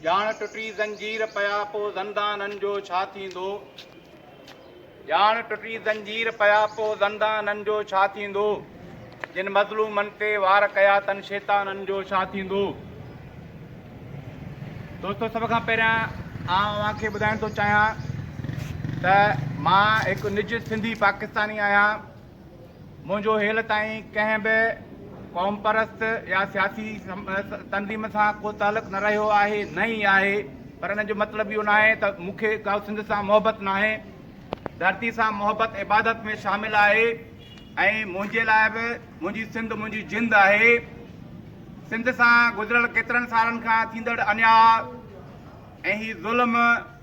ڄاڻ ٽٽي زنجير پيا پو زندانن جو ڇا ٿيندو؟ ڄاڻ ٽٽي زنجير پيا پو زندانن جو ڇا ٿيندو؟ جن مظلومن تي وار ڪيا تن شيطانن جو ڇا ٿيندو؟ دوستو سڀ کان پهريان آئون اوهان کي ٻڌائڻ ٿو چاهيان ته مان هڪ نج سنڌي پاڪستاني آهيان منهنجو هيل تائين ڪنهن به قومپرست يا سياسي تنظيم سان ڪو تعلق نه رهيو آهي نه ئي آهي پر ان جو مطلب اهو نه آهي ته مون کي ڪا سنڌ سان محبت نه آهي ڌرتي سان محبت عبادت ۾ شامل آهي ۽ منهنجي لاء به منهنجي سنڌ منهنجي جند آهي سنڌ سان گذريل ڪيترن سالن کان ٿيندڙ انيا ۽ هي ظلم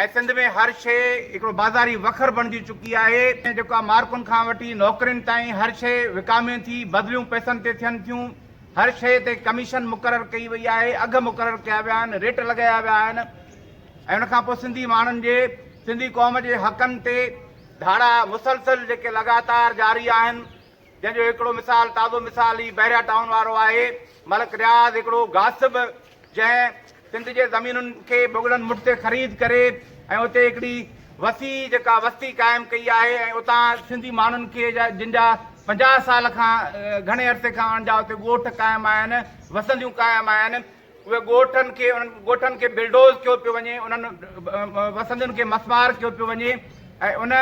اڄ سنڌ ۾ هر شيء هڪڙو بازاري وکر بڻجي چڪي آهي، جيڪا مارڪن کان وٺي نوڪرين تائين هر شيء وڪامي ٿي، بدليون پئسن تي ٿين ٿيون، هر شيء تي ڪميشن مقرر ڪئي وئي آهي، اگهه مقرر ڪيا ويا آهن، ريٽ لڳايا ويا آهن ۽ ان کان پوء سنڌي ماڻهن جي، سنڌي قوم جي حقن تي ڌاڙا مسلسل جيڪي لڳاتار جاري آهن، جنهن جو هڪڙو مثال تازو مثال هي بحريا ٽائون وارو آهي. ملڪ رياض هڪڙو غاصب جنهن سنڌ جي زمينن کي مغلن مٺ تي خريد ڪري ۽ اتي هڪڙي وسيع جيڪا وستي قائم ڪئي آهي ۽ اتان سنڌي ماڻهن کي جن جا پنجاهه سال کان گهڻي عرصي کان ان جا اتي ڳوٺ قائم آهن، وسنديون قائم آهن. اهي ڳوٺن کي انهن ڳوٺن کي بلڊوز ڪيو پيو وڃي انهن وسندين کي مسمار ڪيو پيو وڃي ۽ ان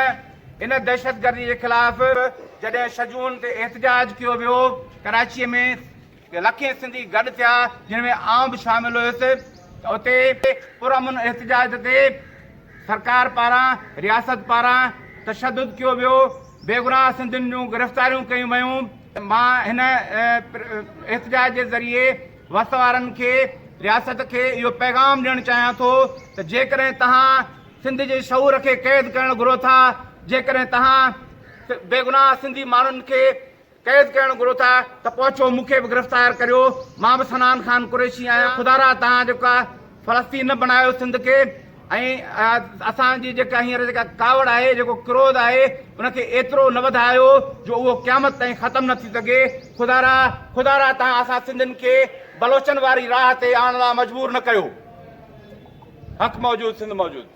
ان دهشتگردي جي خلاف جڏهن ڇهه جون تي احتجاج ڪيو ويو ڪراچي ۾ لکين سنڌي گڏ ٿيا جن ۾ آئون به شامل هيس ته اتي پرامن احتجاج تي سرڪار پاران رياست پاران تشدد ڪيو ويو بيگناهه سنڌين جون گرفتاريون ڪيون ويون مان هن احتجاج جي ذريعي وس وارن کي رياست کي اهو پيغام ڏيڻ چاهيان ٿو ته جيڪڏهن توهان سنڌ جي شعور کي قيد ڪرڻ گهرو ٿا جيڪڏهن توهان بيگناهه سنڌي ماڻهن کي قيد ڪرڻ گهرو ٿا ته پهچو مون کي به گرفتار ڪريو مان به سنان خان قريشي آهيان خدارا توهان جيڪا فلسطين نه بڻايو سنڌ کي ۽ اسان جي جيڪا هينئر جيڪا ڪاوڙ آهي جيڪو ڪروڌ آهي ان کي ايترو نه وڌايو جو اهو قيامت تائين ختم نه ٿي سگهي خدارا خدارا تان اسان سنڌين کي بلوچن واري راهه تي آڻڻ لا مجبور نه ڪيو حق موجود سنڌ موجود